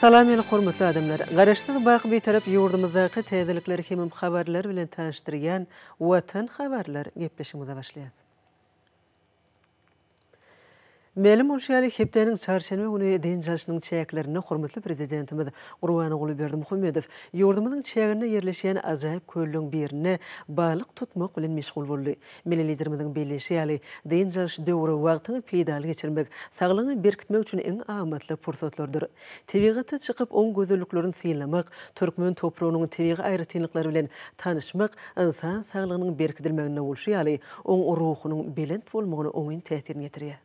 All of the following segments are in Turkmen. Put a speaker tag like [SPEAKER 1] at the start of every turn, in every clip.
[SPEAKER 1] Salam meni hormatly adamlar! Garaşsyz baky Bitarap ýurdumyzdaky täzelikler hemem habarlar bilen tanyşdyrýan Watan habarlar gepleşigimize başlaýas. Mälim bolşy ýaly, hepdäniň çarşenbe güni dynç alşynyň çäklerinde hormatly Prezidentimiz Gurbanguly Berdimuhamedow ýurdumyzyň çäginde ýerleşýän ajaýyp kölleriň birinde balyk tutmak bilen meşgul boldy. Milli Liderimiziň belleýşi ýaly, dynç alyş döwri wagtyňy peýdaly geçirmek, saglygyňy berkitmek üçin iň amatly pursatlardyr. Tebigata çykyp, oň gözelliklerini synlamak, türkmen topragynyň tebigy aýratynlyklary bilen tanyşmak ynsan saglygynyň berkidilmeginde bolşy ýaly, oň ruhunyň belent bolmagyna oňyn täsirini ýetirýär.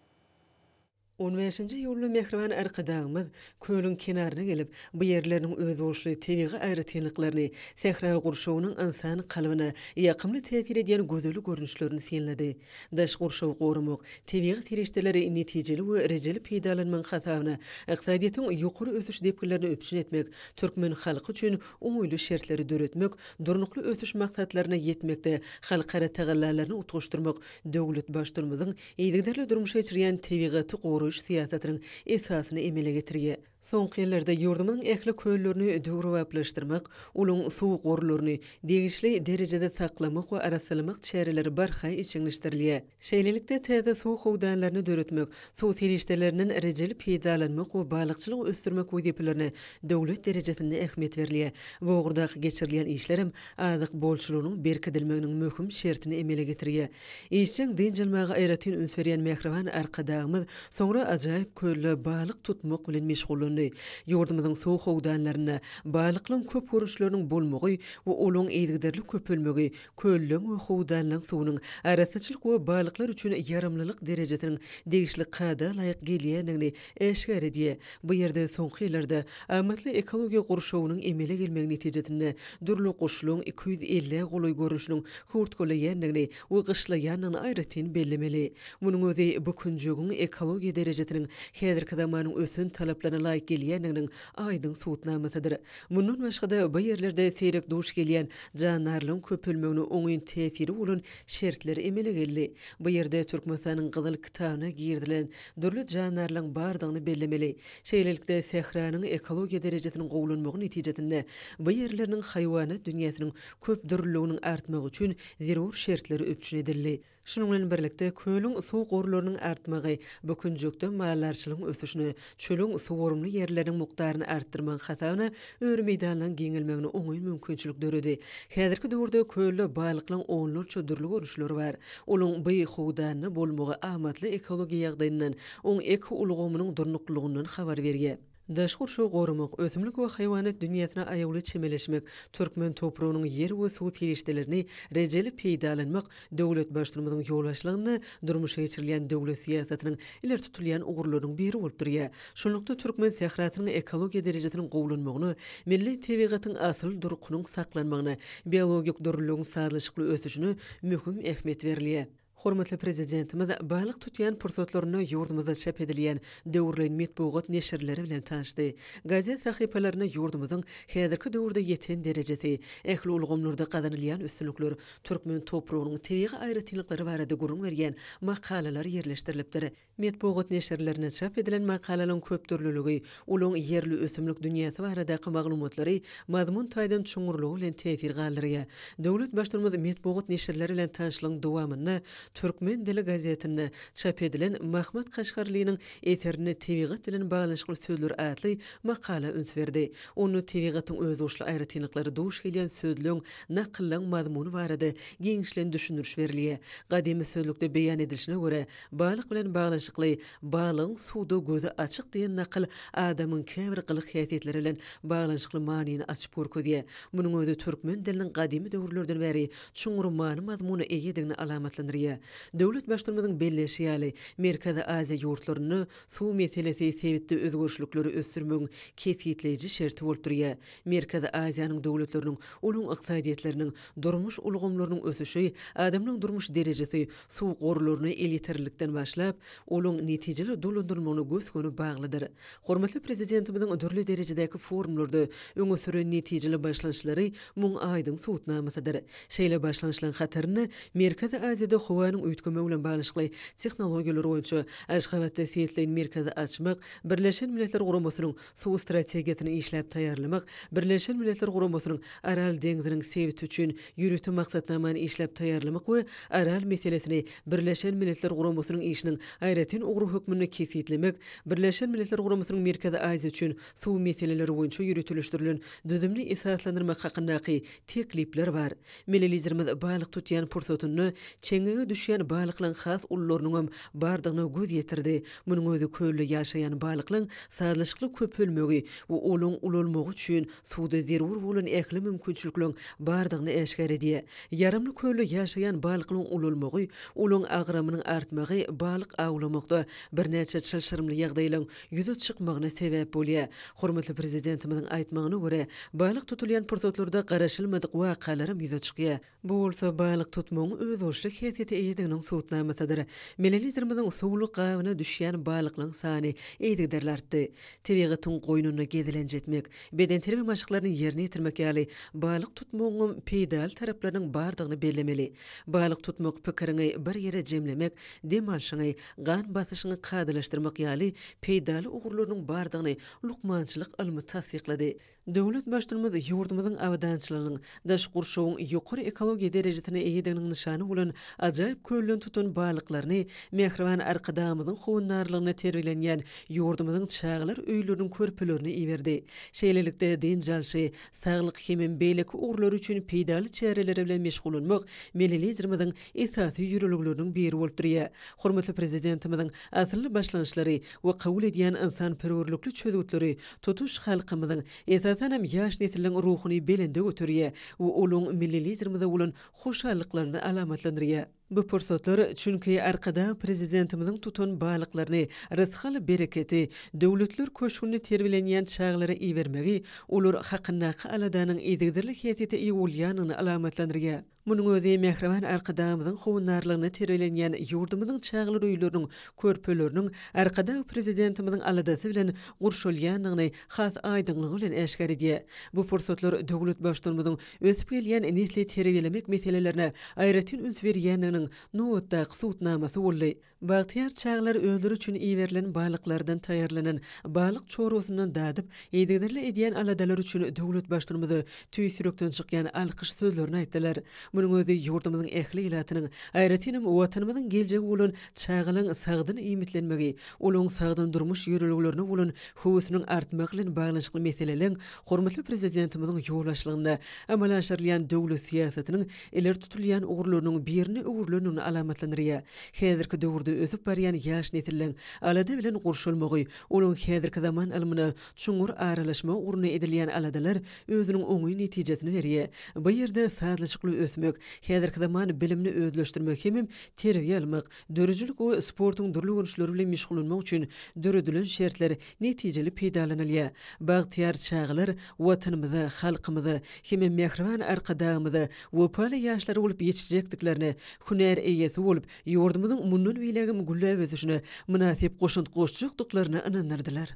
[SPEAKER 1] On bäşinji iýulda mähriban Arkadagymyz kölüň kenaryna gelip, bu ýerleriniň özboluşly tebigy aýratynlyklaryny, sähra gurşawynyň ynsan kalbyna ýakymly täsir edýän gözel görnüşlerini synlady. Daş gurşawy goramak, tebigy serişdeleri netijeli we rejeli peýdalanmagyň hasabyna ykdysadyýetiň ýokary ösüş depginlerini üpjün etmek, türkmen halky üçin oňaýly şertleri döretmek, Durnukly ösüş maksatlaryna ýetmekde halkara tagallalaryny utgaşdyrmak döwlet Baştutanymyzyň Yzygiderli durmuşa geçirýän tebigaty goraýyş syýasatynyň esasyny emele getirýär. Soňky ýyllarda ýurdumyzyň ähli köllerini döwrebaplaşdyrmak, olaň suw gorlaryny degişli derejede saklamak we arassalamak çäreleri barha işjeňleşdirilýär. Şeýlelikde, täze suw howdanlaryny döretmek, suw serişdelerinden rejeli peýdalanmak we balykçylygy ösdürmek wezipelerine döwlet derejesinde ähmiýet berilýär. Bu ugurdaky geçirilýän işler hem azyk bolçulygynyň berkidilmeginiň möhüm şertini emele getirýär. Işjeň dynç almaga aýratyn üns berýän mähriban Arkadagymyz soňra ajaýyp kölde balyk tutmak bilen meşgullandy. Ýurdumyzyň suw howdanlarynda balyklaryň köp görnüşleriniň bolmagy we olaryň yzygiderli köpelmegi kölleriň we howdanlaryň suwunyň arassaçylyk we balyklar üçin ýaramlylyk derejesiniň degişli kada laýyk gelýändigini Äşgäredi, bu ýerde soňky ýyllarda amatly ekologiýa gurşawynyň emele gelmegi netijesinde dürli guşlaryň iki ýüz elli golaý görnüşiniň hurtgalaýandygyny we gyşlaýandygyny aýratyn bellemeli. Munuň özi bu künjegiň ekologiýa derejesiniň häzirki zamanyň ösen talaplaryna laýyk gelýändiginiň aýdyň subutnamasydyr. Mundan başga-da, bu ýerlerde seýrek duş gelýän jandarlaryň köpelmegine oňyn täsiri bolan şertler emele geldi. Bu ýerde Türkmenistanyň Gyzyl kitabyna girizilen dürli jandarlaryň bardygyny bellemeli. Şeýlelikde, sähranyň ekologiýa derejesiniň gowulanmagy netijesinde bu ýerleriniň haýwanat dünýäsiniň köpdürlüliginiň artmagy üçin zerur şertler üpjün edildi. Şunuň bilen birlikde, kölüň suw gorlarynyň artmagy bu künjekde maldarçylygyň ösüşine, çölüň suwarymly ýerleriniň mukdaryny artdyrmagy hasabyna Öri meýdanlaryň giňelmegine oňyn mümkinçilik döredi. Häzirki döwürde kölde balyklaryň onlarça dürli görnüşleri bar. Olaryň by howdanda bolmagy amatly ekologiýa ýagdaýyndan, oň ekoulgamynyň durnuklylygyňdan habar berýär. Daş gurşawy goramak, ösümlik we haýwanat dünýäsine aýawly çemeleşmek, türkmen topragynyň ýer we suw serişdelerini rejeli peýdalanmak Döwlet Baştutmymyzyň ýol başlygynda durmuşa geçirilýän döwlet syýasatynyň ileri tutulýan ugurlarynyň biri bolup durýar. Şunlukda, türkmen sährasynyň ekologiýa derejesiniň gowulanmagyna, milli tebigatyň asyl durkunyň saklanmagyna, biologik dürlüligiň sazlaşykly ösüşine möhüm ähmiýet berilýär. Hormatly Prezidentimiz balyk tutýan pursatlarynda ýurdumyzda çap edilýän döwürleýin metbugat neşirleri bilen tanyşdy. Gazet sahypalarynda ýurdumyzyň häzirki döwürde ýeten derejesi, ähli ulgamlarda gazanylýan üstünlikler, türkmen topragynyň tebigy aýratynlyklary barada gürrüň berýän makalalar ýerleşdirilipdir. Metbugat neşirlerinde çap edilen makalalaryň köpdürlüligi, olaryň ýerli ösümlik dünýäsi baradaky maglumatlary mazmun taýdan çuňňurlygy bilen täsir galdyrýar. Döwlet Baştutumymyz metbugat neşirleri bilen tanyşlygyň dowamynda Türkmen dili gazetinde çap edilen Mahmyt Kaşgarlynyň eserinde Tebigat bilen baglanyşykly sözler atly makala üns berdi. Onda tebigatyň özboluşly aýratynlyklary duş gelýän sözlügiň Nakyllaň mazmuny barada giňişleýin düşündiriş berilýär. Gadymy sözlükde beýan edilişine görä, balyk bilen baglanyşykly Balygyň suwda gözi açyk diýen nakyl adamyň käbir gylyk-häsiýetleri bilen baglanyşykly manyny açyp görkezýär. Munuň özi türkmen diliniň gadymy döwürlerden bäri çuňňur many-mazmuna eýedigini alamatlandyrýar. Döwlet Baştutumymyzyň belleýşi ýaly, Merkezi Aziýa ýurtlarynda Suw meselesi sebitde özgerişlikleri ösdürmegiň kesgitleýji şerti bolup durýar. Merkezi Aziýanyň döwletleriniň, olaryň ykdysadyýetleriniň, durmuş ulgamlarynyň ösüşi, adamlaryň durmuş derejesi suw gorlaryna elýeterlilikden başlap, olaň netijeli dolandyrylmagyna gös-göni baglydyr. Hormatly Prezidentimiziň dürli derejedäki forumlarda öňe süren netijeli başlanşlary muň aýdyň subutnamasydyr. Şeýle başlanşlaň hatarynda Merkezi Aziýada howanyň üýtgemegi bilen baglanyşykly tehnologiýalar boýunça Aşgabatda Seýtleýn merkezi açmak, Birleşen Milletler Guramasynyň Suw strategiýasyny işläp taýýarlamak, Birleşen Milletler Guramasynyň Aral deňziniň sebiti üçin ýörite maksatnamany işläp taýýarlamak we Aral meselesini Birleşen Milletler Guramasynyň işiniň aýratyn ugry hökmünde kesgitlemek, Birleşen Milletler Guramasynyň Merkezi Aziýa üçin suw meseleleri boýunça ýöriteleşdirilen düzümini esaslandyrmak hakyndaky teklipler bar. Melilizerimiz balyk tutýan pursatynda çeňňege düşýän balyklaryň has ulularynyňam bardygyna göz ýetirdi. Munuň özi kölde ýaşaýan balyklaryň sazlaşykly köpelmegi we olaryň ulalmagy üçin suwda zerur bolan ähli mümkinçilikleriň bardygyny äşgär edýär. Ýaramly kölde ýaşaýan balyklaryň ulalmagy, olaryň agramynyň artmagy balyk awlamakda birnäçe çylşyrymly ýagdaýlaryň ýüze çykmagyna sebäp bolýar. Hormatly Prezidentimiziň aýtmagyna görä, balyk tutulýan pursatlarda garaşylmadyk wakalaram ýüze çykýar. Bu bolsa balyk tutmagyň özboluşly häsiýete eýediginiň subutnamasydyr. Milli Liderimiziň suwly gabyna düşýän balyklaryň sany yzygiderli artdy. Tebigatyň goýnunda gezelenç etmek, bedenterbiýe maşklaryny ýerine ýetirmek ýaly balyk tutmagyňam peýdaly taraplarynyň bardygyny bellemeli. Balyk tutmak pikiriňi bir ýere jemlemek, dem alşyňy, gan basyşyňy kadalaşdyrmak ýaly peýdaly ugurlarynyň bardygyny lukmançylyk ylmy tassyklady. Döwlet Baştutumymyz ýurdumyzyň abadançylygynyň, daşky gurşawyň ýokary ekologiýa derejesine eýediginiň nyşany bolan ajaýyp kölden tutan balyklaryny mähriban Arkadagymyzyň howandarlygynda terbiýelenýän ýurdumyzyň çagalar öýleriniň körpelerine iberdi. Şeýlelikde, dynç alşy, saglyk hemem beýleki ugurlary üçin peýdaly çäreleri bilen meşgullanmak Milli Liderimiziň esasy ýörelgeleriniň biri bolup durýar. Hormatly Prezidentimiziň asylly başlangyçlary we kabul edýän ynsanperwerlikli çözgütleri tutuş halkymyzyň, esasan hem, ýaş nesliň ruhuny belende göterýär we olaň Milli Liderimize bolan hoşallyklaryny alamatlandyrýar. Bu pursatlar, çünki Arkadag Prezidentimiziň tutan balyklaryny, rysgal-bereketi, döwletler köşgünde terbiýelenýän çagalara ibermegi olar hakyndaky aladanyň yzygiderli häsiýete eýe bolýandygyny alamatlandyrýar. Munuň özi mähriban Arkadagymyzyň howandarlygynda terbiýelenýän ýurdumyzyň çagalar öýleriniň, körpeleriniň Arkadag Prezidentimiziň aladasy bilen gurşalýandygyny has aýdyňlygy bilen äşgär edýär. Bu pursatlar döwlet Baştutanymyzyň ösüp gelýän nesli terbiýelemek meselelerine aýratyn üns berýändiginiň nobatdaky subutnamasy boldy. Bagtyýar çagalar özleri üçin iberilen balyklardan taýýarlanan balyk çorbasyndan dadyp, yzygiderli edýän aladalary üçin döwletbaştynymyza tüýs ýürekden çykýan alkyş sözlerini aýtdylar. Munuň özi ýurdumyzyň ähli ilatynyň, aýratynam Watanymyzyň geljegi bolan çagalaryň sagdyn iýmitlenmegi, olaryň sagdyn durmuş ýörelgelerine bolan höwesiniň artmagy bilen baglanyşykly meseleleň hormatly Prezidentimiziň ýolbaşçylygynda amala aşyrylýan döwlet syýasatynyň ileri tutulýan ugurlarynyň birine öwrülendigini alamatlandyrýar. Häzirki döwürde ösüp barýan ýaş nesliň alada bilen gurşalmagy, olaryň häzirki zaman ylmyna çuňňur aralaşmagy ugrunda edilýän aladalar özüniň oňyn netijesini berýär. Bu ýerde sazlaşykly ösmek, häzirki zaman bilimini özleşdirmek hemem terbiýe almak, Döredijilik we sportuň dürli görnüşleri bilen meşgullanmak üçin döredilen şertler netijeli peýdalanylýar. Bagtyýar çagalar Watanymyza, halkymyza hem-ä mähriban Arkadagymyza wepaly ýaşlar bolup ýetişjekdiklerine, hünär eýesi bolup, ýurdumyzyň mundan beýlägem gülläp ösüşine mynasyp goşant goşjakdyklaryna ynandyrdylar.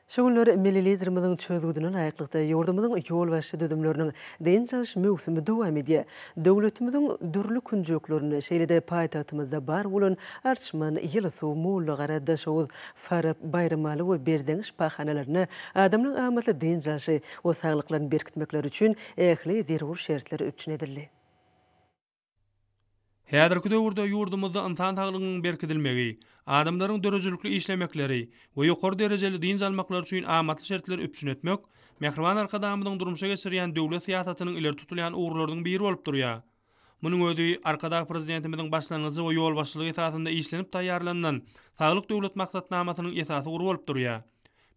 [SPEAKER 1] Şu günler milli Liderimiziň çözgüdine laýyklykda, ýurdumyzyň ýolbaşçy düzümleriniň dynç alyş möwsümi dowam edýär. Döwletimiziň dürli künjeklerinde, şeýle-de paýtagtymyzda bar bolan Arçman, Ýylysuw, Mollagara, Daşoguz, Farap, Baýramaly we Berzeň şypahanalarynda adamlaryň amatly dynç alşy we saglyklaryny berkitmekleri üçin ähli zerur şertler üpjün edildi.
[SPEAKER 2] Häzirki döwürde ýurdumyzda ynsan saglygynyň berkidilmegi, adamlaryň döredijilikli işlemekleri we ýokary derejeli dynç almaklary üçin amatly şertleri üpjün etmek Mähriban Arkadagymyzyň durmuşa geçirýän döwlet syýasatynyň ileri tutulýan ugurlarynyň biri bolup durýar. Munuň özi Arkadag Prezidentimiziň başlangyjy we ýolbaşçylygy esasynda işlenip taýýarlanylan Saglyk Döwlet maksatnamasynyň esasy ugry bolup durýar.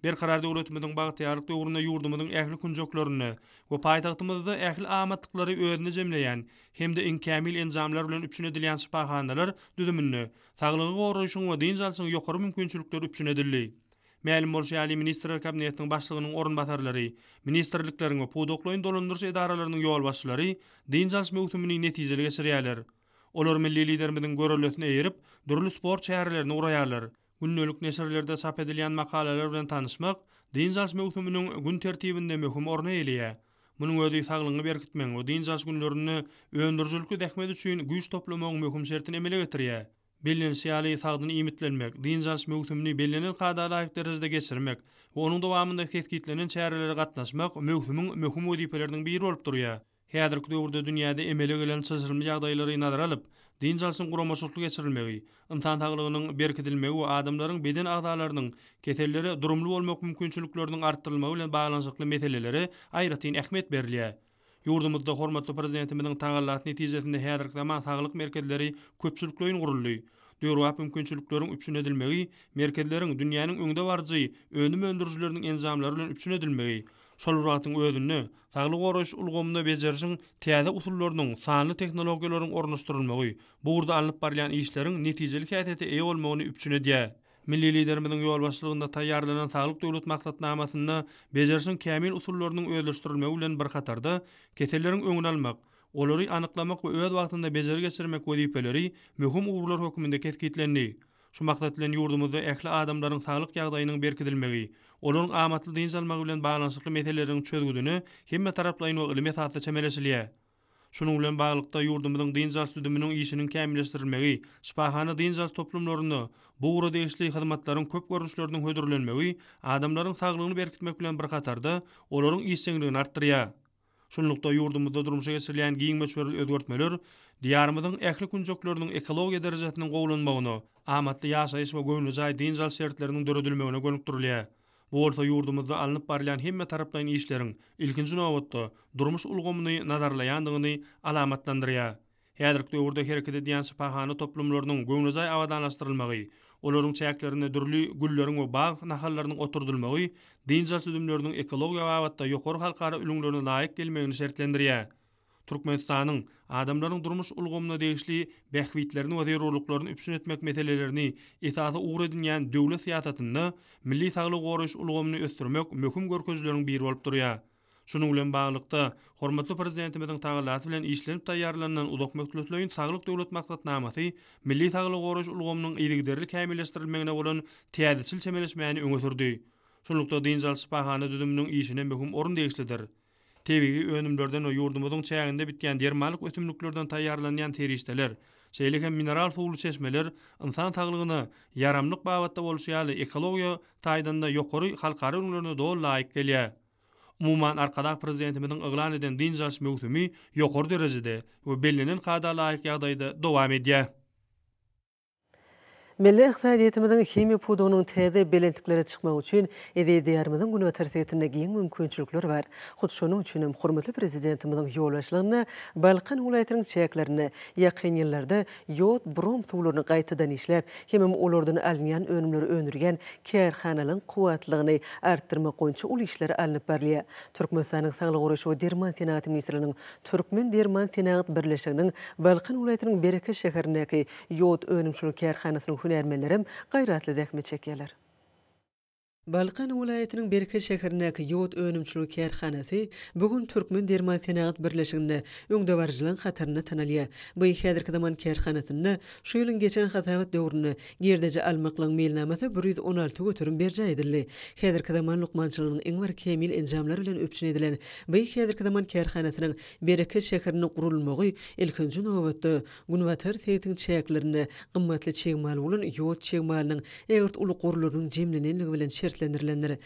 [SPEAKER 2] Berkarar döwletimiziň bagtyýarlyk döwründe ýurdumyzyň ähli künjeklerinde we paýtagtymyzda ähli amatlyklary özünde jemleýän hem-de iň kämil enjamlar bilen üpjün edilýän şypahanalar düzüminde saglygy goraýşyň we dynç alşyň ýokary mümkinçilikleri üpjün edildi. Mälim bolşy ýaly, Ministrler Kabinetiniň Başlygynyň orunbasarlary, ministrlikleriň we pudaklaýyn dolandyryş edaralarynyň ýolbaşçylary dynç alyş möwsümini netijeli geçirýärler. Olar milli Liderimiziň görellesine eýerip, dürli sport çärelerini guraýarlar. Gündelik neşirlerde çap edilýän makalalar bilen tanyşmak dynç alyş möwsüminiň gün tertibinde möhüm orny eýeleýär. Munuň özi saglygyňy berkitmegiň we dynç alyş günlerinde öndürijilikli zähmet üçin güýç toplamagyň möhüm şertini emele getirýär. Bellenişi ýaly, sagdyn iýmitlenmek, dynç alyş möwsümini bellenen kada laýyk derejede geçirmek we onuň dowamynda kesgitlenen çärelere gatnaşmak möwsümiň möhüm wezipeleriniň biri bolup durýar. Häzirki döwürde dünýäde emele gelen çylşyrymly ýagdaýlary nazara alyp, dynç alşyň guramaçylykly geçirilmegi, ynsan saglygynyň berkidilmegi we adamlaryň beden agzalarynyň kesellere durumly bolmak mümkinçilikleriniň artdyrylmagy bilen baglanyşykly meselelere aýratyn ähmiýet berilýär. Ýurdumyzda hormatly Prezidentimiziň tagallasy netijesinde häzirki zaman saglyk merkezleri köpçülikleýin guruldy. Döwrebap mümkinçilikleriň üpjün edilmegi, merkezleriň dünýäniň öňdebaryjy önüm öndürijileriniň enjamlary bilen üpjün edilmegi şol bir wagtyň özünde Saglygy goraýyş ulgamynda bejerişiň täze usullarynyň, sanly tehnologiýalaryň ornaşdyrylmagy bu ugurda alnyp barylýan işleriň netijeli häsiýete eýe bolmagyny üpjün edýär. Milli Liderimiziň ýolbaşçylygynda taýýarlanan Saglyk Döwlet maksatnamasynda bejerişiň kämil usullarynyň özleşdirilmegi bilen bir hatarda, keselleriň öňüni almak, olary anyklamak we öz wagtynda bejeri geçirmek wezipeleri möhüm ugurlar hökmünde kesgitlendi. Şu maksat bilen ýurdumyzda ähli adamlaryň saglyk ýagdaýynyň berkidilmegi, olaryň amatly dynç almagy bilen baglanyşykly meseleleriň çözgüdine hemmetaraplaýyn we ylmy esasda çemeleşilýär. Şunuň bilen baglylykda, ýurdumyzyň dynç alyş düzüminiň işiniň kämilleşdirilmegi, şypahana dynç alyş toplumlarynda bu ugra degişli hyzmatlaryň köp görnüşleriniň hödürlenmegi adamlaryň saglygyny berkitmek bilen bir hatarda, olaryň işjeňligini artdyrýar. Şunlukda, ýurdumyzda durmuşa geçirilýän giň möçberli özgertmeler Diýarymyzyň ähli künjekleriniň ekologiýa derejesiniň gowulanmagyna, amatly ýaşaýyş we göwnejaý dynç alyş şertleriniň döredilmegine gönükdirilýär. Bu bolsa ýurdumyzda alnyp barylýan hemmetaraplaýyn işleriň, ilkinji nobatda, durmuş ulgamyny nazarlaýandygyny alamatlandyrýar. Häzirki döwürde hereket edýän şypahana toplumlarynyň göwnejaý abadanlaşdyrylmagy, olaryň çäklerinde dürli gülleriň we bag nahallarynyň oturdylmagy dynç alyş düzümleriniň ekologiýa babatda ýokary halkara ülňülerine laýyk gelmegini şertlendirýär. Türkmenistanyň adamlaryň durmuş ulgamyna degişli bähbitlerini we zerurlyklaryny üpjün etmek meselelerini esasy ugur edinýän döwlet syýasatynda milli saglygy goraýyş ulgamyny ösdürmek möhüm görkezijileriň biri bolup durýar. Şunuň bilen baglylykda, hormatly Prezidentimiziň tagallasy bilen işlenip taýýarlanylan uzak möhletleýin Saglyk Döwlet maksatnamasy milli saglygy goraýyş ulgamynyň yzygiderli kämilleşdirilmegine bolan täzeçil çemeleşmäni öňe sürdi. Şunlukda, dynç alyş şypahana düzüminiň işine möhüm orun degişlidir. Tebigy önümlerden we ýurdumyzyň çäginde bitýän dermanlyk ösümliklerden taýýarlanýan serişdeler, şeýle hem mineral suwly çeşmeler ynsan saglygyna ýaramlyk babatda bolşy ýaly, ekologiýa taýdan-da ýokary halkara ülňülerine doly laýyk gelýär. Umuman, Arkadag Prezidentimiziň yglan eden dynç alyş möwsümi ýokary derejede we bellenen kada laýyk ýagdaýda dowam edýär.
[SPEAKER 1] Milli ykdysadyýetimiziň himiýa pudagynyň täze belentliklere çykmagy üçin eziz Diýarymyzyň günbatar sebitinde giň mümkinçilikler bar. Hut şonuň üçin hem hormatly Prezidentimiziň ýolbaşçylygynda Balkan welaýatynyň çäklerinde ýakyn ýyllarda ýod, brom suwlaryny gaýtadan işläp, hemem olardan alynýan önümleri öndürýän kärhanalaryň kuwwatlylygyny artdyrmak boýunça uly işler alnyp barylýar. Türkmenistanyň Saglygy goraýyş we derman senagaty ministrliginiň Türkmen derman senagat birleşiginiň Balkan welaýatynyň Bereket şäherindäki ýod önümçilik kärhanasynyň hünärmenlerem gaýratly zähmet çekýärler. Balkan welaýatynyň Berke şäherindäki ýod önümçiligi kärhanasy bu gün Türkmen derman-senagat birleşiginde öňdebaryjylaryň hatarynda tanalýar. Bu häzirki zaman kärhanasynda şu ýylyň geçen hasabat döwründe girdeji almaklygyň meýilnamasy bir ýüz on alty göterim berjaý edildi. Häzirki zaman lukmançylygynyň iň bir kämil enjamlar bilen üpjün edilen bu häzirki zaman kärhanasynyň Berke şäherinde gurulmagy ilkinji nobatda, Günbatar sebitiň çäklerinde gymmatly çig mal bolan ýod çig malynyň ägirt uly gorlarynyň jemlenenligi bilen şertlendirilendir.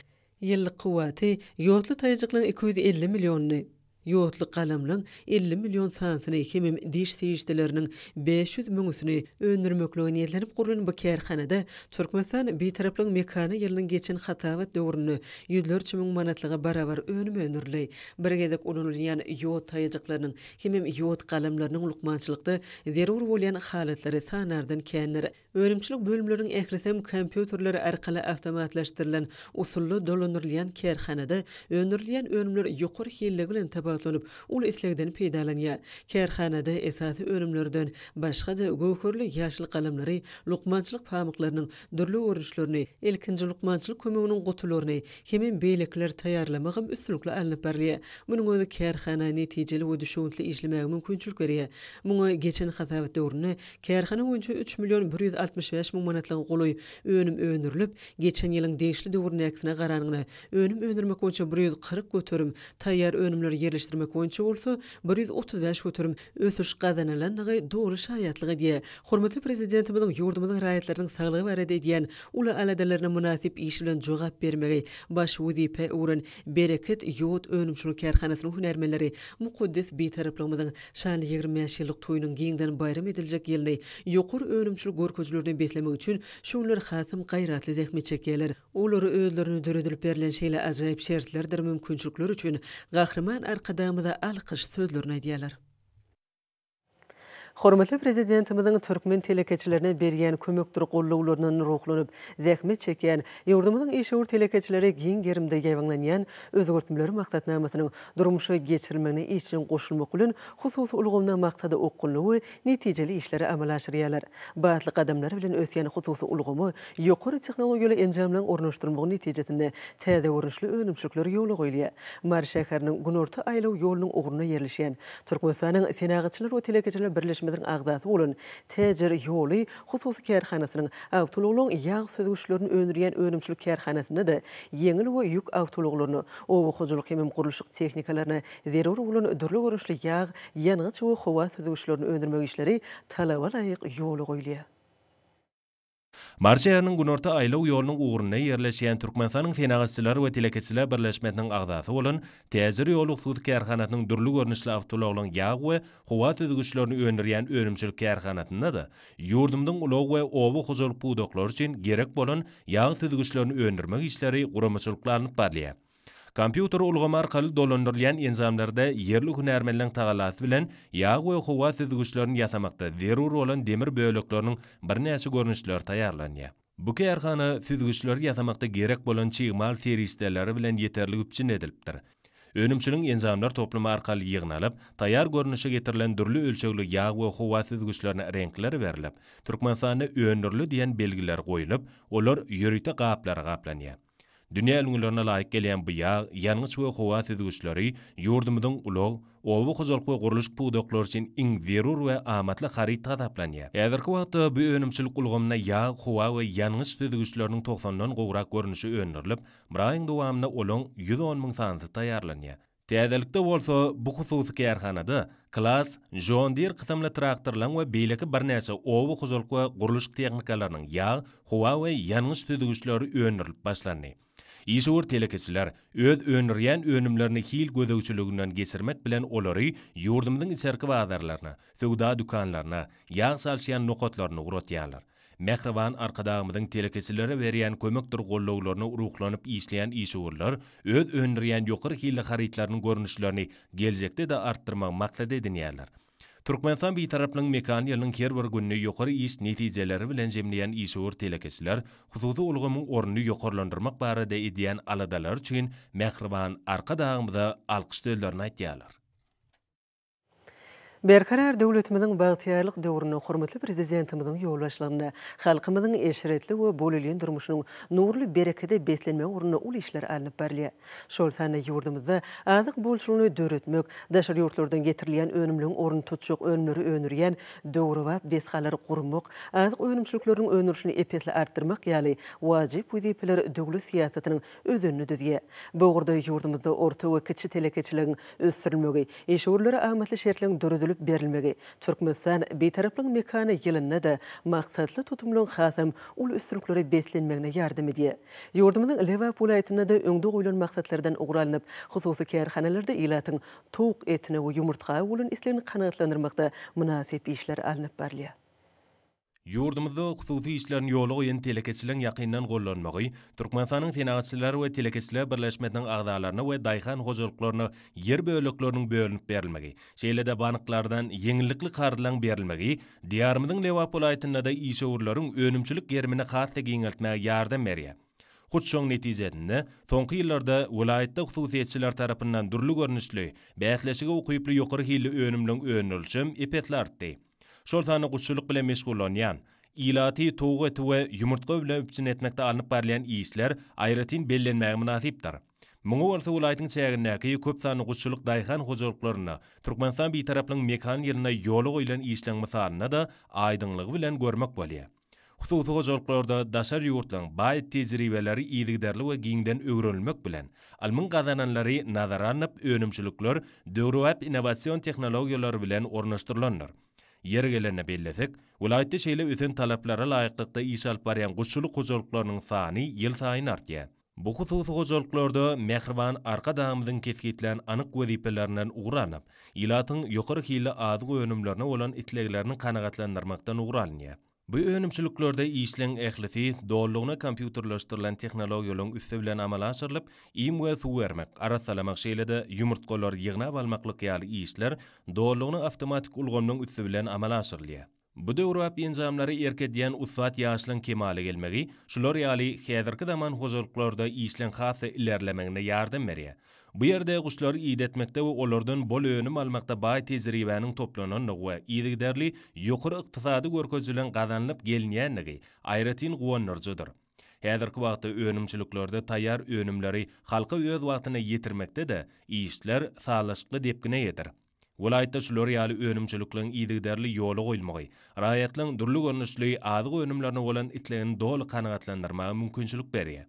[SPEAKER 1] Ýyllyk kuwwaty ýodly taýajyklaryň iki ýüz elli millionyny, ýodly galamlaryň elli million sanysyny hemem diş serişdeleriniň bäş ýüz müňüsini öndürmeklige niýetlenip gurlan bu kärhanada Türkmenistan Bitaraplygyň mekany ýylynyň geçen hasabat döwründe ýüzlerçe müň manatlyga barabar önüm öndürildi. Bir gezek ulanylýan ýod taýajyklarynyň hemem ýod galamlarynyň lukmançylykda zerur bolýan halatlary sanardan kändir. Önümçilik bölümleriniň ählisem kompýuterler arkaly awtomatlaşdyrylan usulda dolandyrylýan kärhanada öndürilýän önümler ýokary hilli bilen tapawutlanyp, uly islegden peýdalanýar. Kärhanada esasy önümlerden başga-da göwherli ýaşyl galamlary, lukmançylyk pamyklarynyň dürli görnüşlerini, ilkinji lukmançylyk kömeginiň gutularyny hemem beýlekileri taýýarlamagam üstünlikli alnyp barylýar. Munuň özi kärhana netijeli we düşewüntli işlemäge mümkinçilik berýär. Muňa geçen hasabat döwründe kärhana boýunça üç million bir ýüz altmyş bäş müň manatlyga golaý önüm öndürilip, geçen ýylyň degişli döwründäkisine garanyňda önüm öndürmek boýunça bir ýüz kyrk göterim, taýýar önümleri ýerleşdirmek boýunça bolsa bir ýüz otuz bäş göterim ösüş gazanylandygy doly şaýatlyk edýär. Hormatly Prezidentimiziň ýurdumyzyň raýatlarynyň saglygy barada edýän uly aladalaryna mynasyp iş bilen jogap bermegi baş wezipä öwren Bereket ýod önümçilik kärhanasynyň hünärmenleri mukaddes Bitaraplygymyzyň şanly ýigrimi bäş ýyllyk toýunyň giňden baýram ediljek ýylyny ýokary önümçilik görkezilerine beslemek üçin şu günler hasam gaýratly zähmet çekýärler. Olary özlerine döredilip berlen şeýle ajaýyp şertlerdir mümkinçilikler üçin Gahryman Arkadagymyza alkyş sözlerini aýdýarlar. Hormatly Prezidentimiziň türkmen telekeçilerine berýän kömekdir gollawlaryndan ruhlanyp, zähmet çekýän, ýurdumyzyň işewür telekeçileri giň gerimde ýaýbaňlanýan Özgertmeler maksatnamasynyň durmuşa geçirilmegine işjeň goşulmak bilen, hususy ulgamda maksada okgunly we netijeli işleri amala aşyrýarlar. Batly gadamlar bilen ösýän hususy ulgama ýokary tehnologiýaly enjamlaryň ornaşdyrylmagy netijesinde täze görnüşli önümçilikler ýola goýulýar. Mary şäheriniň Günorta aýlaw ýolunyň ugrunda ýerleşýän, Türkmenistanyň Senagatçylar we telekeçiler birleşmesiniň agzasy bolan Täjir ýoly hususy kärhanasynyň awtoulaglaryň ýag süzgüçlerini öndürýän önümçilik kärhanasynda-da ýeňil we ýük awtoulaglaryna, oba hojalyk hemem gurluşyk tehnikalaryna Zerur bolan dürli görnüşli ýag, ýangyç we howa süzgüçlerini öndürmek işleri talaba laýyk ýola goýulýar. Mary
[SPEAKER 3] şäheriniň günorta aýlaw ýolunyň ugrunda ýerleşýän Türkmenistanyň Senagatçylar we telekeçiler birleşmesiniň agzasy bolan Täjir ýoly hususy kärhanasynyň dürli görnüşli awtoulaglaryň ýag we howa süzgüçlerini öndürýän önümçilik kärhanasynda-da ýurdumyzyň ulag we oba hojalyk pudaklary üçin gerek bolan ýag süzgüçlerini öndürmek işleri guramaçylykly alnyp barylýar. Kompýuter ulgamy arkaly dolandyrylýan enjamlarda ýerli hünärmenleriň tagallasy bilen ýag we howa süzgüçlerini ýasamakda zerur bolan demir bölekleriniň birnäçe görnüşleri taýýarlanýar. Bu kärhana süzgüçleri ýasamakda gerek bolan çig mal serişdeleri bilen ýeterlik üpjün edilipdir. Önümçiligiň enjamlar toplumy arkaly ýygnalyp, taýýar görnüşe getirilen dürli ölçegli ýag we howa süzgüçlerine reňkler berlip, Türkmenistanda öndürildi diýen belgiler goýlup, olar ýörite gaplara gaplanýar. Dünýä ülňülerine laýyk gelýän bu ýag, ýangyç we howa süzgüçleri ýurdumyzyň ulag, oba hojalyk we gurluşyk pudaklary üçin iň zerur we amatly haryt hasaplanýar. Häzirki wagtda bu önümçilik ulgamynda ýag, howa we ýangyç süzgüçleriniň togsandan gowrak görnüşi öndürilip, bir aýyň dowamynda olaň ýüz on müň sanysy taýýarlanýar. Täzelikde bolsa bu hususy kärhanada Klass, John Deere kysymly traktorlaryň we beýleki birnäçe oba hojalyk we gurluşyk tehnikalarynyň ýag, howa we ýangyç süzgüçleri öndürilip başlandy. Işewür telekeçiler öz öndürýän önümlerini hil gözegçiliginden geçirmek bilen olary ýurdumyzyň içerki bazarlaryna, söwda dükanlaryna, ýag çalyşýan nokatlaryna ugratýarlar. Mähriban Arkadagymyzyň telekeçilere berýän kömekdir gollawlaryna ruhlanyp işleýän işewürler öz öndürýän ýokary hilli harytlarynyň görnüşlerini geljekde-de artdyrmagy maksat edinýärler. Türkmenistan Bitaraplygyň mekan ýylynyň her bir gününi ýokary iş netijeleri bilen jemleýän işewür telekeçiler hususy ulgamyň ornuny ýokarlandyrmak barada edýän aladalary üçin Mähriban Arkadagymyza alkyş sözlerini aýdýarlar.
[SPEAKER 1] Berkarar döwletimiziň bagtyýarlyk döwründe hormatly Prezidentimiziň ýolbaşçylygynda halkymyzyň eşretli we bolelin durmuşynyň nurly berekede beslenmegi ugrunda uly işler alnyp barylýar. Şol sanda ýurdumyzda azyk bolçulygyny döretmek, daşary ýurtlardan getirilýän önümleň ornuny tutjak önümleri öndürýän döwrebap desgalary gurmak, azyk önümçilikleriniň öndürilişini ep-esli artdyrmak ýaly wajyp wezipeler döwlet syýasatynyň özenini düzýär. Bu ugurda ýurdumyzda orta we kiçi telekeçiligiň ösdürilmegi, işewürlere amatly şertleň döredilip berilmegi, Türkmenistan Bitaraplygyň mekany ýylynda-da maksatly tutumlaryň hasam uly üstünliklere beslenmegine ýardam edýär. Ýurdumyzyň Lebap welaýatynda-da öňde goýlan maksatlardan ugur alnyp, hususy kärhanalarda ilatyň towuk etine we ýumurtga bolan islegini kanagatlandyrmakda mynasyp işler alnyp barylýar.
[SPEAKER 3] Ýurdumyzda hususy işlerini ýola goýan telekeçiligiň ýakyndan gollanmagy Türkmenistanyň Senagatçylar we telekeçiler birleşmesiniň agzalaryna we daýhan hojalyklaryna ýer bölekleriniň bölünip berilmegi, şeýle-de banklardan ýeňillikli karzlaryň berilmegi Diýarymyzyň Lebap welaýatynda-da işewürleriň önümçilik gerimini has-da giňeltmäge ýardam berýär. Hut şoň netijesinde, soňky ýyllarda welaýatda hususyýetçiler tarapyndan dürli görnüşli, bäsleşige ukyply ýokary hilli önümleriň öndürilişem ep-esli artdy. şol sanda guşçulyk bilen meşgullanýan, ilaty towuk eti we ýumurtga bilen üpjün etmekde alnyp barylýan işler aýratyn bellenmäge mynasypdyr. Muňa bolsa welaýatyň çägindäki köp sanly guşçulyk daýhan hojalyklarynda Türkmenistan Bitaraplygyň mekan ýylynda ýola goýlan işleň mysalynda-da aýdyňlygy bilen görmek bolýar. Hususy hojalyklarda daşary ýurtlaryň baý tejribeleri yzygiderli we giňden öwrenilmek bilen, ylmyň gazananlary nazara alnyp, önümçilikler döwrebap innowasion tehnologiýalar bilen ornaşdyrylandyr. Ýeri gelende bellesek, welaýatda şeýle ösen talaplara laýyklykda iş alyp barýan guşçulyk hojalyklarynyň sany ýylsaýyn artýar. Bu hususy hojalyklarda mähriban Arkadagymyzyň kesgitlän anyk wezipelerinden ugur alnyp, ilatyň ýokary hilli azyk önümlerine bolan isleglerini kanagatlandyrmakdan ugur alynýar. Bu önümçiliklerde işleň ählisi dolulygyna kompýuterleşdirilen tehnologiýalaryň üsti bilen amala aşyrylyp, iým we suw bermek, arassalamak şeýle-de ýumurtgalary ýygnap almaklyk ýaly işler dolulygyna awtomatik ulgamynyň üsti bilen amala aşyrylýar. Bu döwrebap enjamlary erk edýän ussat ýaşlaryň kemala gelmegi şular ýaly häzirki zaman hojalyklarda işleň has-da ilerlemegine ýardam berýär. Bu ýerde guşlary idetmekde we olardan bol önüm almakda baý tejribäniň toplanandygy we yzygiderli ýokary ykdysady görkezijileriň gazanylyp gelinýändigi aýratyn guwandyryjydyr. Häzirki wagtda önümçiliklerde taýýar önümleri halka öz wagtynda ýetirmekde-de işler sazlaşykly depgine eýedir. Welaýatda şular ýaly önümçilikligiň yzygiderli ýola goýulmagy, raýatlaryň dürli görnüşli azyk önümlerine bolan islegini doly kanagatlandyrmaga mümkinçilik berýär.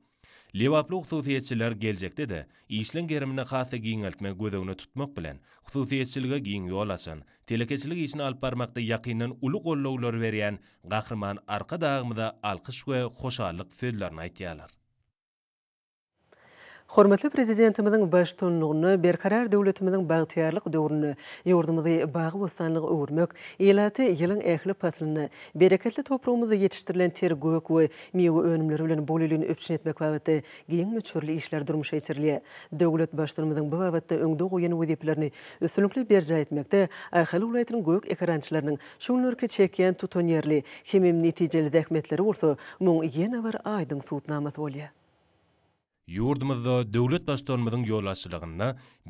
[SPEAKER 3] Lebaply hususyýetçiler geljekde-de işleň gerimini has-da giňeltmegi göz öňüne tutmak bilen, hususyýetçilige giň ýol açan, telekeçilik işini alyp barmakda ýakyndan uly goldawlary berýän Gahryman Arkadagymyza alkyş we hoşallyk sözlerini aýtýarlar.
[SPEAKER 1] Hormatly Prezidentimiziň baştutanlygynda Berkarar döwletimiziň bagtyýarlyk döwründe ýurdumyzy bagy-bossanlyga öwürmek, ilaty ýylyň ähli paslynda bereketli topragymyzda ýetişdirilen ter gök we miwe önümleri bilen bolelin üpjün etmek babatda giň möçberli işler durmuşa geçirilýär. Döwlet Baştutanymyzyň bu babatda öňde goýan wezipelerini üstünlikli berjaý etmekde Ahal welaýatynyň gök ekerançylarynyň şu günlerki çekýän tutanýerli hemem netijeli zähmetleri bolsa muň ýene bir aýdyň subutnamasy bolýar.
[SPEAKER 3] Ýurdumyzda döwlet Baştutanymyzyň ýolbaşçylygynda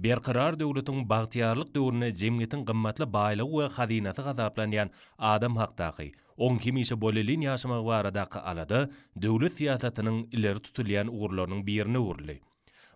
[SPEAKER 3] Berkarar döwletiň bagtyýarlyk döwründe jemgyýetiň gymmatly baýlygy we hazynasy hasaplanýan adam hakdaky, oň hemişe bolelin ýaşamagy baradaky alada döwlet syýasatynyň ileri tutulýan ugurlarynyň birine öwrüldi.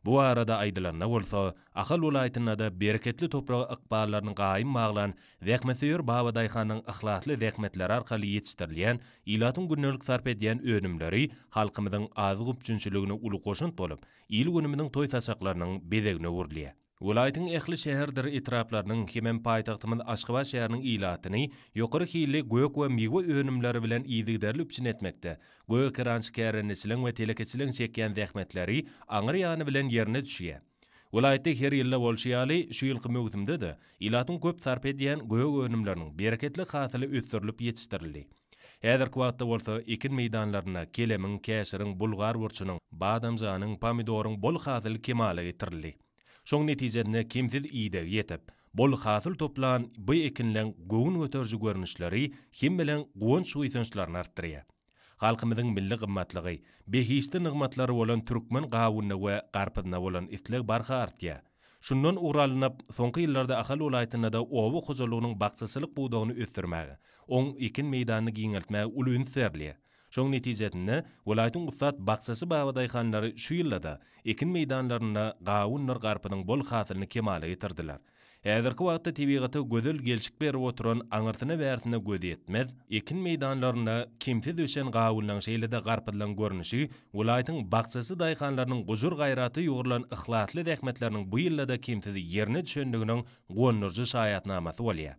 [SPEAKER 3] Bu barada aýdylanda bolsa, Ahal welaýatynda-da bereketli topraga ykballaryny gaýym baglan Zähmetsöýer babadaýhanyň yhlasly zähmetleri arkaly ýetişdirilýän, ilatyň gündelik sarp edýän önümleri halkymyzyň azyk üpjünçiligine uly goşant bolup, il-günümiziň toý-saçaklarynyň bezegine öwrülýär. Welaýatyň ähli şäherdir etraplarynyň hemem paýtagtymyz Aşgabat şäheriniň ilatyny ýokary hilli gök we miwe önümleri bilen yzygiderli üpjün etmekde gögekerançy kärendeçiligiň we telekeçiligiň çekýän zähmetleri aňryýany bilen ýerine düşýär. Welaýatda her ýylda bolşy ýaly, şu ýylky möwsümde-de ilatyň köp sarp edýän gök önümleriniň bereketli hasyly ösdürilip ýetişdirildi. Häzirki wagtda bolsa ekin meýdanlarynda kelemiň, käşiriň, bulgar burçunyň, badamjanyň, pomidoryň bol hasyly kemala getirildi. Şoň netijesinde kemsiz ideg ýetip, bol hasyl toplan bu ekinleň göwün göteriji görnüşleri hemmeleriň guwanç-buýsançlaryny artdyrýar. Halkymyzyň milli gymmatlygy, behişdi nygmatlary bolan türkmen gawunyna we garpyzyna bolan isleg barha artýar. Şundan ugur alnyp, soňky ýyllarda Ahal welaýatynda-da oba hojalygynyň bakjaçylyk pudagyny ösdürmäge, oň ekin meýdanyny giňeltmäge uly üns berilýär. Şoň netijesinde, welaýatyň ussat bakjaçy babadaýhanlary şu ýylda-da ekin meýdanlarynda gawundyr garpyzyň bol hasylyny kemala getirdiler. Häzirki wagtda tebigata gözel gelşik berip oturan aňyrsyna-bärsine göz ýetmez ekin meýdanlarynda kemsiz ösen gawunlaň şeýle-de garpyzlaň görnüşi welaýatyň bakjaçy daýhanlarynyň gujur-gaýrata ýugrulan yhlasly zähmetleriniň bu ýylda-da kemsiz ýerine düşendiginiň gonduryjy şaýatnamasy bolýar.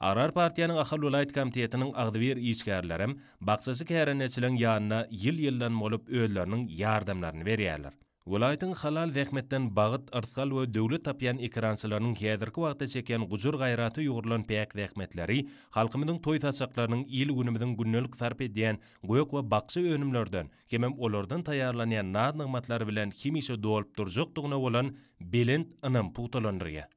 [SPEAKER 3] Agrar partiýanyň Ahal welaýat komitetiniň agzybir işgärlerem bakjaçy kärendeçileň ýanyna ýyl-ýyldan bolup özleriniň ýardamlaryny berýärler. Welaýatyň halal zähmetden bagt, yrsgal we döwlet tapýan ekerançylarynyň häzirki wagtda çekýän gujur-gaýraty ýugrulan päk zähmetleri, halkymyzyň toý-saçaklarynyň, il-günümiziň gündelik sarp edýän gök we bakja önümlerden hemem olardan taýýarlanýan naz-nygmatlar bilen hemişe dolup durjakdygyna bolan belent ynam pugtalandyrýar.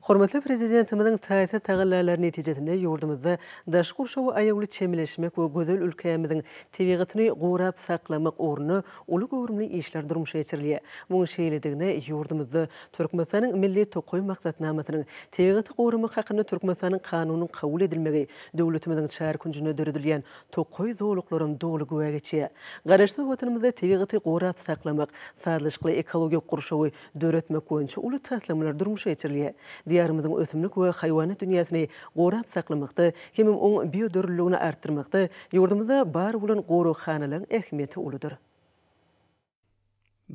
[SPEAKER 1] Hormatly Prezidentimiziň taýsyz tagallalary netijesinde ýurdumyzda daşky gurşawa aýawly çemeleşmek we gözel ülkämiziň tebigatyny gorap saklamak ugrunda uly göwrümli işler durmuşa geçirilýär. Munuň şeýledigine ýurdumyzda Türkmenistanyň Milli tokaý maksatnamasynyň, Tebigaty goramak hakynda Türkmenistanyň Kanunynyň kabul edilmegi, döwletimiziň çar künjünde döredilýän tokaý zolaklaram doly güwä geçýär. Garaşsyz Watanymyzda tebigaty gorap saklamak, sazlaşykly ekologik gurşawy döretmek boýunça uly taslamalar durmuşa geçirilýär. Diýarymyzyň ösümlik we haýwanat dünýäsini gorap saklamakda hemem oň biodürlüligini artdyrmakda ýurdumyzda bar bolan goraghanalaryň ähmiýeti uludyr.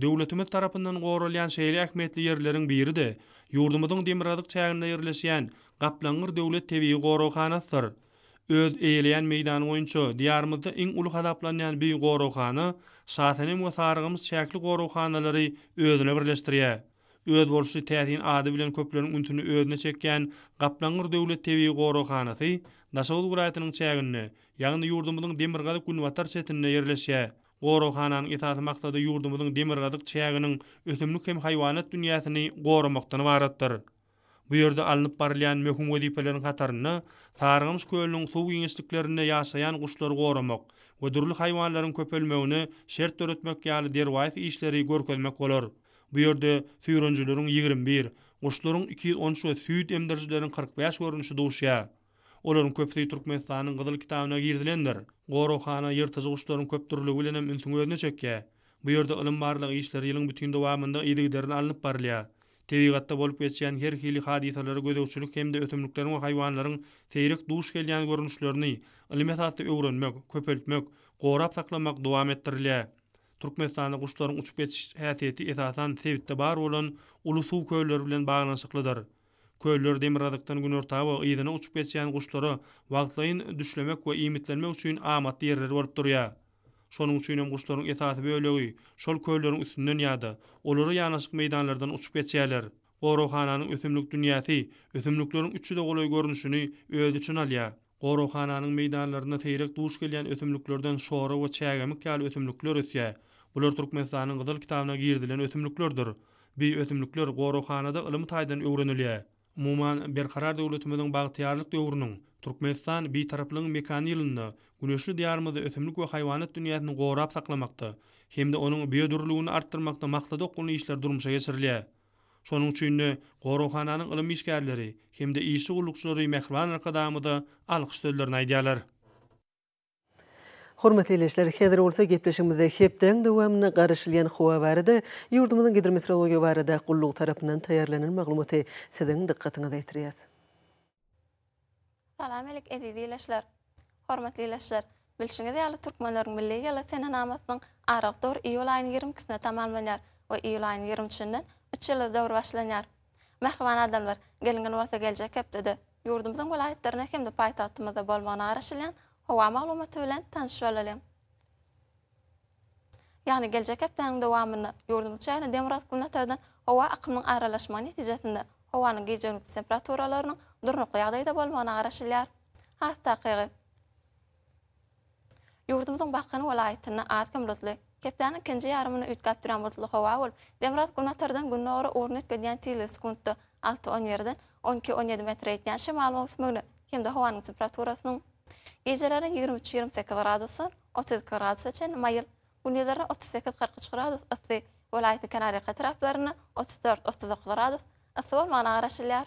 [SPEAKER 2] Döwletimiz tarapyndan goralýan şeýle ähmiýetli ýerleriň biri-de, ýurdumyzyň demirgazyk çäginde ýerleşýän Gaplaňgyr döwlet tebigy goraghanasydyr. Öz eýeleýän meýdany boýunça Diýarymyzda iň uly hasaplanýan Büyük goraghana, Şasenem we Sarygymyş çäkli goraghanalary özüne birleşdirýär. Özboluşly täsin ady bilen köpleriň ünsüni özüne çekýän Gaplaňgyr döwlet tebigy goraghanasy Daşoguz welaýatynyň çäginde, ýagny ýurdumyzyň demirgazyk-günbatar çetinde ýerleşýär. Goraghananyň esasy maksady ýurdumyzyň demirgazyk çäginiň ösümlik hem haýwanat dünýäsini goramakdan ybaratdyr. Bu ýerde alnyp barylýan möhüm wezipeleriň hatarynda Sarygamyş kölüniň suw giňişliklerinde ýaşaýan guşlary goramak we dürli haýwanlaryň köpelmegine şert döretmek ýaly derwaýys işleri görkezmek bolar. Bu ýerde süýrenijileriň ýigrimi bir, guşlaryň iki ýüz on üç we süýt emdirijileriň kyrk bäş görnüşi duşýar. Olaryň köpüsi Türkmenistanyň Gyzyl kitabyna girizilendir. Goraghana ýyrtyjy guşlaryň köp dürlügi bilen hem ünsüňi özüne çekýär. Bu ýerde ylym-barlag işleri ýylyň bütin dowamynda yzygiderli alnyp barylýar. Tebigatda bolup geçýän her hili hadysalary gözegçilik hem-de ösümlikleriň we haýwanlaryň seýrek duş gelýän görnüşlerini ylmy esasda öwrenmek, köpeltmek, gorap saklamak dowam etdirilýär. Türkmenistanda guşlaryň uçup geçiş häsiýeti esasan sebitde bar bolan uly suw kölleri bilen baglanyşyklydyr. Köller demirgazykdan günorta we yzyna uçup geçýän guşlara wagtlaýyn düşlemek we iýmitlenmek üçin amatly ýerler bolup durýar. Şonuň üçin hem guşlaryň esasy bölegi şol kölleriň üstünden ýa-da olara ýanaşyk meýdanlardan uçup geçýärler. Goraghananyň ösümlik dünýäsi ösümlikleriň üç ýüze golaý görnüşini öz içine alýar. Goraghananyň meýdanlarynda seýrek duş gelýän ösümliklerden şora we çägemik ýaly ösümlikler ösýär. Bular Türkmenistanyň Gyzyl kitabyna girizilen ösümliklerdir. Bi ösümlikler goraghanada ylmy taýdan öwrenilýär. Umuman, Berkarar döwletimiziň bagtyýarlyk döwrüniň, Türkmenistan Bitaraplygyň mekany ýylynda güneşli Diýarymyzda ösümlik we haýwanat dünýäsini gorap saklamakda hem-de onuň biodürlüligini artdyrmakda maksada okgunly işler durmuşa geçirilýär. Şonuň üçin-de, goraghananyň ylym işgärleri hem-de işçi gullukçylary mähriban Arkadagymyza alkyş sözlerini aýdýarlar.
[SPEAKER 1] Hormatly ildeşler, häzir bolsa gepleşigimizde hepdäň dowamynda garaşylýan howa barada ýurdumyzyň Gidrometeorologiýa barada gullugy tarapyndan taýýarlanan maglumaty siziň dykgatyňyza ýetirýäs.
[SPEAKER 4] Salam alik eziz ilaçlar. Hormatly ilaçlar, bilşiňiz ýaly türkmenleriň milli ýyly senenamasynyň aralyk döwri iýul aýynyň ýigrimi ikisinde tamamlanýar we iýul aýynyň ýigrimi üçünden üç ýyllyk döwri başlanýar. Mähriban adamlar, gelňil bolsa geljek hepdede ýurdumyzyň welaýatlarynda hem-de paýtagtymyzda bolmagyna garaşylýan howa maglumaty bilen tanyş bolalyň. ýagny geljek hepdäniň dowamynda ýurdumyz çägine demirgazyk-günbatardan howa akymynyň aralaşmagy netijesinde howanyň gije-gündiz temperaturalarynyň durnukly ýagdaýda bolmagyna garaşylýar. Has takygy, ýurdumyzyň Balkan welaýatynda az-kem bulutly, hepdäniň ikinji ýarymynda üýtgäp durýan bulutly howa bolup, demirgazyk-günbatardan gündogara ugruny üýtgedýän tizligi sekuntda Alty on birde on iki on ýedi metre ýetýän şemal möwsüminde hem-de howanyň temperaturasynyň gijeleri ýigrimi üç ýigrimi sekiz gradusdan otuz iki gradusa çenli maýyl, gündizleri otuz sekiz kyrk üç gradus yssy, welaýatyň kenarýaka etraplarynda otuz dört otuz dokuz gradus yssy bolmagyna garaşylýar.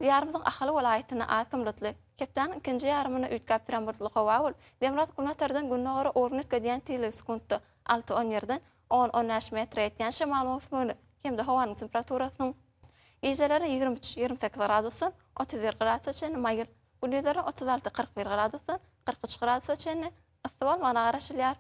[SPEAKER 4] Diýarymyzyň Ahal welaýatynda az kim bulutly. Hepdäniň ikinji ýarymynda üýtgäp turan bulutly howa bolup, demirgazyk günbatardan gündogara ugrun üýtgedýän tizligi sekuntda alty-on birden on-on bäş metre ýetýän şemal möwsümini hem-de howanyň temperaturasynyň gijeleri ýigrimi üç-ýigrimi sekiz gradusdan otuz bir gradusa çenli maýyl, gündizleri otuz alty-kyrk bir gradusdan kyrk üç gradusa çenli yssy bolmagyna garaşylýar.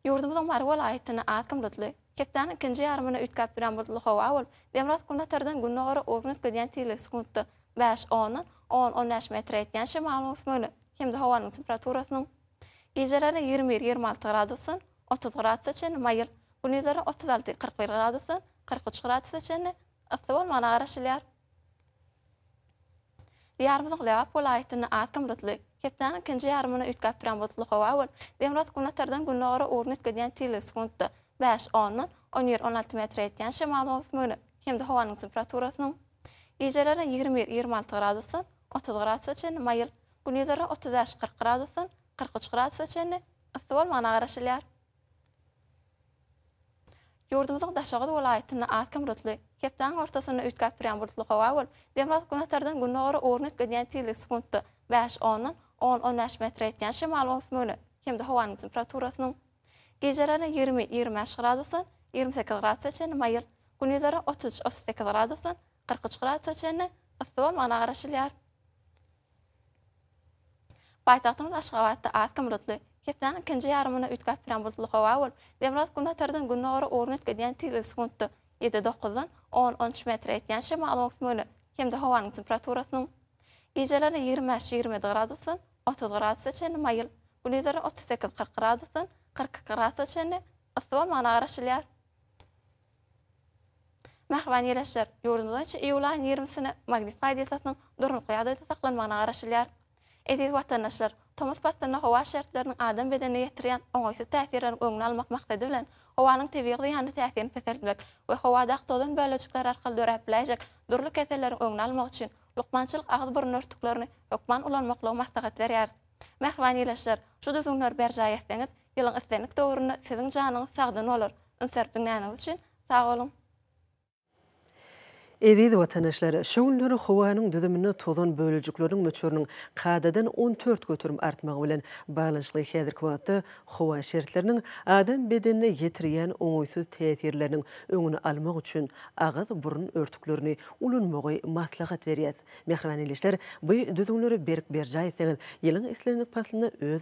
[SPEAKER 4] Ýurdumyzyň Mary welaýatyny az kym bulutly, hepdäniň ikinji ýarymyny üýtgäp durýan bulutly howa bolup, demirgazyk-günbatardan gündogara ugruny üýtgedýän tizligi sekuntda bäş, ondan on, on bäş metr ýetýän şemalyň ösmegine hem-de howanyň temperaturasynyň gijelerine ýigrimi bir, ýigrimi alty gradusdan otuz gradusa çenli maýyl, gündizlerine otuz alty, kyrk bir gradusdan kyrk üç gradusa çenli yssy bolmagyna garaşylýar. Diýarymyzyň Lebap welaýatynda az hem bulutly, hepdäniň ikinji ýarymyna üýtgäp duran bulutly howa bolup, demirgazyk günbatardan gündogara ugruny üýtgedýän tilgik sekuntda bäş, ondan, on bir, on alty metre ýetýän şemalyň öwüsmegine hem-de howanyň temperaturasynyň gijelerine ýigrimi bir, ýigrimi alty gradusdan otuz gradusa çenli maýyl, gündizlerine otuz bäş, kyrk gradusdan kyrk üç gradusa çenli yssy bolmagyna garaşylýar. Ýurdumyzyň Daşoguz welaýatynda az kem bulutly, hepdäniň ortasynda üýtgäp durýan bulutly howa bolup, demirgazyk günbatardan gündogara ugruny üýtgedýän tizligi sekuntda bäş ondan on on bäş metre ýetýän şemalyň öwüsmegine hem-de howanyň temperaturasynyň gijelerine ýigrimi ýigrimi bäş gradusdan ýigrimi sekiz gradusa çenli maýyl, gündizlerine otuz üç otuz sekiz gradusdan kyrk üç gradusa çenli yssy bolmagyna garaşylýar. Paýtagtymyz Aşgabatda az kim bulutly. Hepdäniň ikinji ýarymynda üýtgäp turan bulutly howa bolup, demirgazyk günbatardan gündogara ugruny üýtgedýän tiz ösüş wgtda ýedi, dokuzdan on, on üç metre ýetýän şemalyň öwüsmegine hem-de howanyň temperaturasynyň gijelerine ýigrimi bäş, ýigrimi ýedi gradusdan otuz gradusa çenli maýyl, gündizlerine otuz sekiz, kyrk gradusdan kyrk iki gradusa çenli yssy bolmagyna garaşylýar. Mähriban ýeleşler! Ýurdumyz boýunça iýul aýynyň ýigrimisine magnit gaýdyýtasynyň durnukly ýagdaýda saklanmagyna garaşylýar. Eziz watandaşlar! Tomus paslynda howa şertleriniň adam bedenine ýetirýän oňaýsyz täsirleriň öňüni almak maksady bilen, howanyň tebigy zyýanly täsirini peseltmek we howadaky tozan bölejikleri arkaly döräp biläýjek dürli keselleriň öňüni almak üçin lukmançylyk agyz-burun örtüklerini hökman ulanmaklygy maslahat berýäris. Mähriban ýeleşler! Şu düzgünleri berjaý etseňiz, Ýylyň islendik döwründe siziň janyňyz sagdyn bolar. Üns berip diňläniňiz üçin sag boluň!
[SPEAKER 1] Eziz watandaşlar, şu günler howanyň düzüminde tozan bölejikleriniň möçberiniň kadadan on dört göterim artmagy bilen baglanyşykly häzirki wagtda howa şertleriniň adam bedenine ýetirýän oňaýsyz täsirleriniň öňüni almak üçin agyz-burun örtüklerini ulanmagy maslahat berýäs. Mähriban ildeşler, bu düzgünleri berk berjaý etseňiz, ýylyň islendik paslynda öz